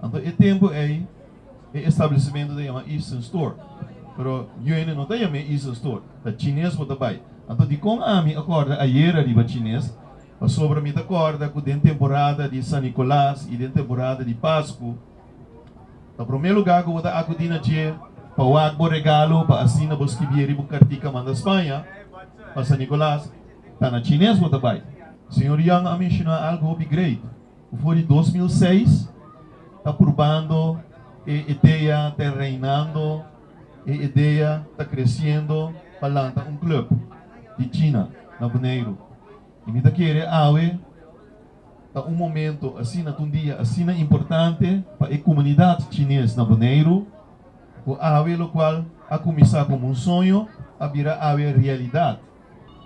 Anto e tempu ei e establecimentu ta yama Eastern Store, pero Yuene no ta yam'é Eastern Store, ta Chines bo ta bai. Anto dikon ami a kòrda ayera riba Chines? Pasobra mi ta kòrda ku den temporada di San Nicolas i den temporada di Pasku, ta promé lugá ku bo ta akudí na dje pa wak bo regalo pa asina bo skibieri bo kartica manda Spaña pa San Nicolas, ta na Chines bo ta bai. Señor Young a menshoná algu hopi great. For di dos mil seis ta purbando e idea den Reinando, e idea ta creciendo pa lanta un club di China na Boneiru. Y mi ta kere awe ta un momento asina, ta un dia asina importante pa e comunidad Chines na Boneiru, cu awe locual a cuminsa como un soño a bira awe realidad.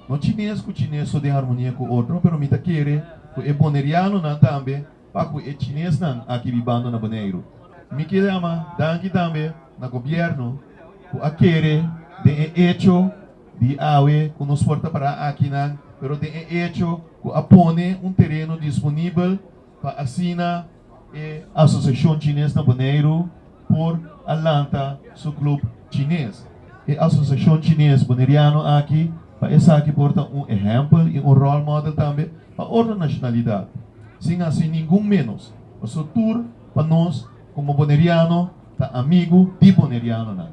No chines ku chines so den harmonia ku otro, pero mi ta kere ku e bonerianonan tambe pa ku e chinesnan aki bibando na Boneiru. Mi kere a ma danki tambe na gobièrnu ku a kere den e echo di awe ku nos por ta pará akinan, pero den e echo ku a pone un tereno disponibel pa asina, E Asosiashon Chines na Boneiru por a lanta su klub chines. E Asosiashon Chines Boneriano aki pa esaki por ta un ehèmpel i un ròl mòdel tambe pa otro nashonalidat. Sin hasi ningun ménos, paso tur pa nos komo boneriano ta amigu di bonerianonan.